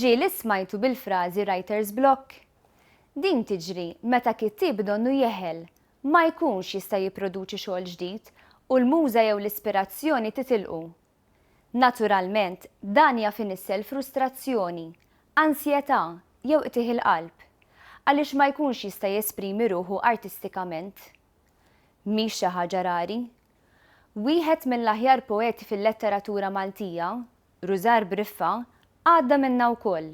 Ġie li smajtu bil-frażi writer's block? Din tiġri meta kittieb donnu jeħel, ma jkunx jista' jipproduċi xogħol ġdid u l-muża jew l-ispirazzjoni titilqu Naturalment, dan jaf inissel frustrazzjoni, ansjetà, jew qtigħ il-qalb, għaliex ma jkunx jista' jesprimi ruħu artistikament. Mhix xi ħaġa rari. Wieħed mill-aħjar poeti fil-letteratura Maltija, Rużar Briffa, għadda minnha wkoll.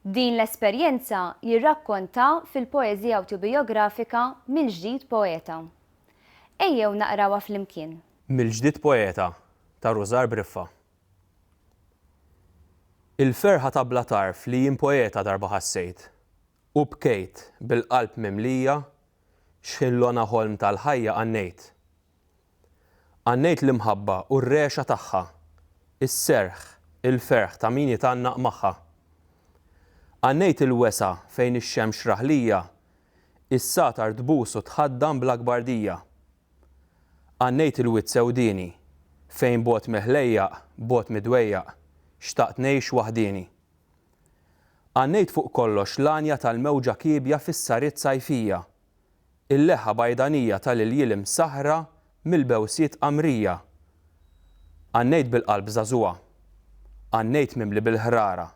Din l-esperjenza jirrakkontha fil-poeżija awtobijografika Mill-Ġdid Poeta. Ejjew naqrawha flimkien. Mill-ġdid poeta ta' Rużar Briffa. Il-ferħa ta' bla tarf li jien poeta darba ħassejt, u bkejt bil-qalb mimlija x'ħillona ħolm tal-ħajja għannejt. Għannejt l-imħabba u r-regħxa tagħha, is-serħ, il-ferħ ta' min jitgħannaq magħha. Għannejt il-wesgħa fejn ix-xemx raħlija is-satar tbus u tħaddan bl-akbar dija. Għannejt il-wied sewdieni, fejn bogħod mill-ħlejjaq, bogħod mid-dwejjaq, xtaqt ngħix waħdieni. Għannejt fuq kollox l-għanja tal-mewġa kiebja fis-sariet sajfija, il-leħa bajdanija ta' l-iljiel imsaħħra mill-bewsiet qamrija. Għannejt bil-qalb żagħżugħa. Għannejt mimli bil-ħrara.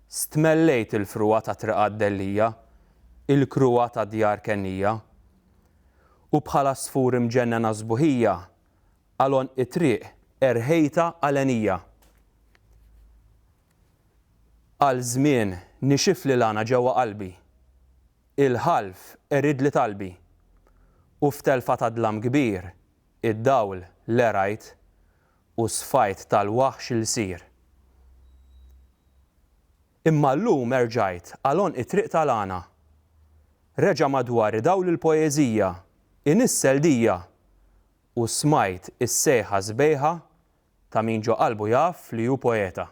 Stmellejt il-frugħa ta' triqat dellija, il-kruha ta' djar kennija. U bħal għasfur imġennen għas-sbuħija, għal għonq it-triq erħejtha għalenija. Għal żmien nixifli l-għana ġewwa qalbi, il-ħalf qeridli talbi, u f'telfa ta' dlam kbir id-dawl lerajt u sfajt tal-waħx lsir. Imma llum erġajt għal għonq it-triq tal-għana. Reġa' madwar idawl il-poeżija, inissel dija! U smajt is-sejħa sbejħa ta' min ġo qalbu jaf li hu poeta.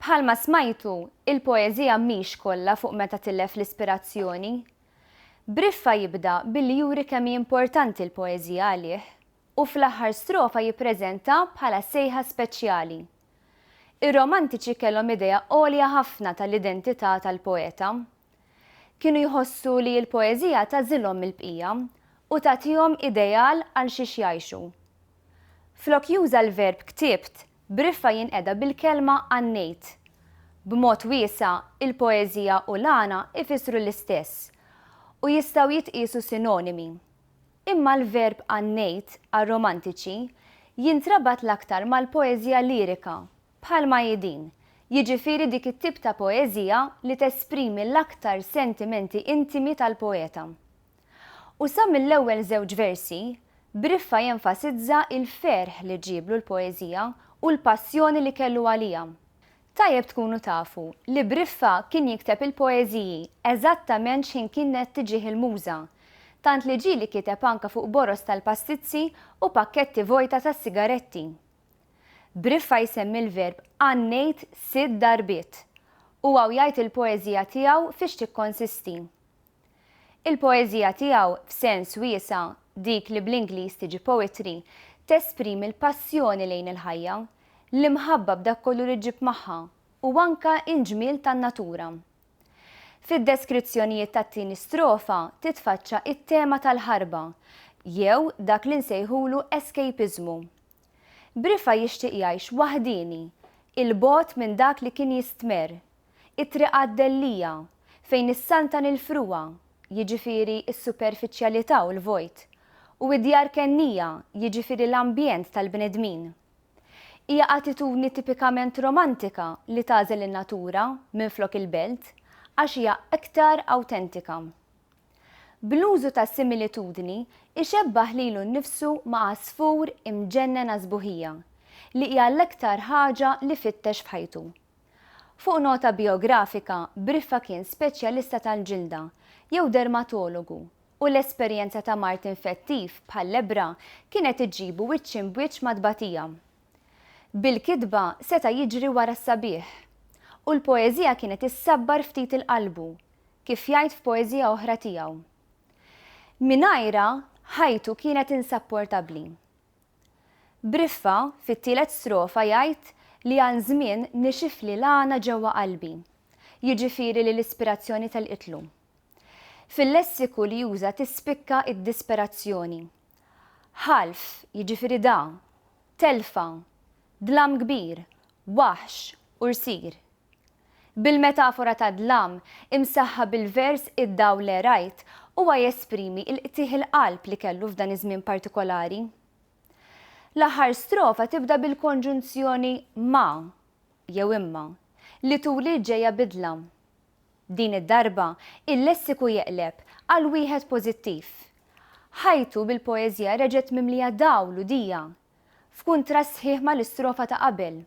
Bħalma smajtu, il-poeżija mhix kollha fuq meta tilef l-ispirazzjoni. Briffa jibda billi juri kemm hi importanti l-poeżija għalih. u fl-aħħar strofa jippreżenta bħala sejħa speċjali. Ir-Romantiċi kellhom idea għolja ħafna tal-identità tal-poeta. Kienu jħossu li l-poeżija tagħżilhom mill-bqija u tagħtihom ideal għal xiex jgħixu. Flok juża l-verb ktibt, Briffa jinqeda bil-kelma għannejt. B'mod wiesa', il-poeżija u l-għana jfissru l-istess u jistgħu jitqiesu sinonimi. Imma l-verb għan-ngħid għar-Romantiċi jintrabat l-aktar mal-poeżija lirika, bħalma hi din, jiġifieri dik it-tip ta' poeżija li tesprimi l-aktar sentimenti intimi tal-poeta. U sa mill-ewwel żewġ versi, Briffa jenfasizza l-ferħ li ġieblu l-poeżija u l-passjoni li kellu għaliha. Tajjeb tkunu tafu li Briffa kien jikteb il-poeżiji eżattament x'ħin kiennet tiġih il-muża, tant li ġieli kiteb anke fuq boroż tal-pastizzi u pakketti vojta ta' sigaretti. Briffa jsemmi l-verb għannejt sitt darbiet, u hawn jgħid il-poeżija tiegħu fiex tikkonsisti. Il-poeżija tiegħu, f'sens wiesa', dik li bl-Ingliż tiġi poetry, tesprimi l-passjoni lejn il-ħajja, l-imħabba b'dak kollu li ġġib magħha, u anke l-ġmiel tan-natura. Fid-deskrizzjonijiet tat-tieni strofa titfaċċa t-tema tal-ħarba, jew dak li nsejħulu escapismu. Brifa jixtieq jgħix waħdieni, 'il bogħod minn dak li kien jistmerr, It-Triq għad-Dellija, fejn issaltan il-frugħa, jiġifieri s-superfiċjalità u l-vojt, u id-djar kennija, jiġifieri l-ambjent tal-bnedmin. Hija attitudni tipikament romantika li tagħżel in-natura minflok il-belt għax hija iktar awtentika. Bl-użu ta' similitudni ixebbah lilu nnifsu ma' għasfur imġennen għas-sbuħija, li hija l-iktar ħaġa li fittex f'ħajtu. Fuq nota bijografika, Briffa kien speċjalista tal-ġilda, jew dermatologu, u l-esperjenza ta' mard infettiv, bħal-lebbra, kienet iġġibu wiċċ imb'wiċċ ma' tbatija. Bil-kitba seta' jiġri wara s-sabiħ. U l-poeżija kienet issabbar ftit 'il qalbu, kif jgħid f'poeżija oħra tiegħu. Mingħajrha, ħajtu kienet insapportabbli. Briffa, fit-tielet strofa jgħid li għal żmien nixifli l-għana ġewwa qalbi, jiġifieri li l-ispirazzjoni telqitlu. Fil-lessiku li juża tispikka d-disperazzjoni. Ħalf, jiġifieri da, telfa, dlam kbir, waħx, ursir. Bil-metafora tad-dlam, imsaħħa bil-vers Id-dawl le rajt, huwa jesprimi l-qtigħ il-qalb li kellu f'dan iż-żmien partikolari. L-aħħar strofa tibda bil-konġunzjoni ma, jew imma, li turi l-ġejja bi dlam. Din id-darba, il-lessiku jeqleb għal wieħed pożittiv. Ħajtu bil-poeżija reġgħet mimlija dawl u dija, f'kuntrast sħiħ mal-istrofa ta' qabel.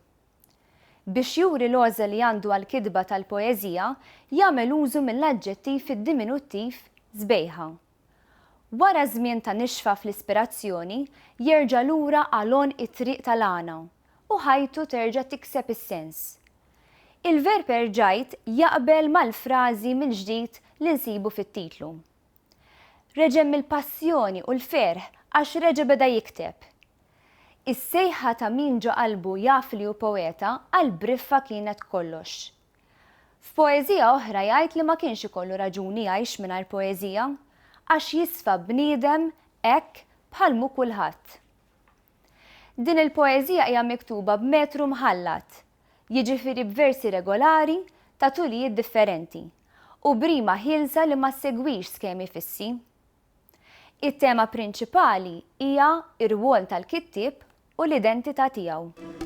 Biex juri l-għoża li għandu għall-kitba tal-poeżija, jagħmel użu mill-aġġettiv fid-diminuttiv sbejħa. Wara żmien ta' nixfa fl-ispirazzjoni, jerġa' lura għal għonq it-triq tal-għana, u ħajtu terġa' tikseb is-sens. Il-verb erġajt jaqbel mal-frażi mill-ġdid li nsibu fit-titlu. Reġgħem mill-passjoni u l-ferħ għax reġa' beda jikteb. Is-sejħa ta' min ġo qalbu jaf li hu poeta għal briffa kienet kollox. F'poeżija oħra jgħid li ma kienx ikollu raġuni jgħix mingħajr poeżija, għax jisfa bniedem hekk bħal mhu kulħadd. Din il-poeżija hija miktuba b'metru mħallat, jiġifieri b'versi regolari ta' tulijiet differenti u b'rima ħielsa li ma ssegwix skemi fissi. It-tema prinċipali hija r-rwol tal-kittieb u l-identità tiegħu.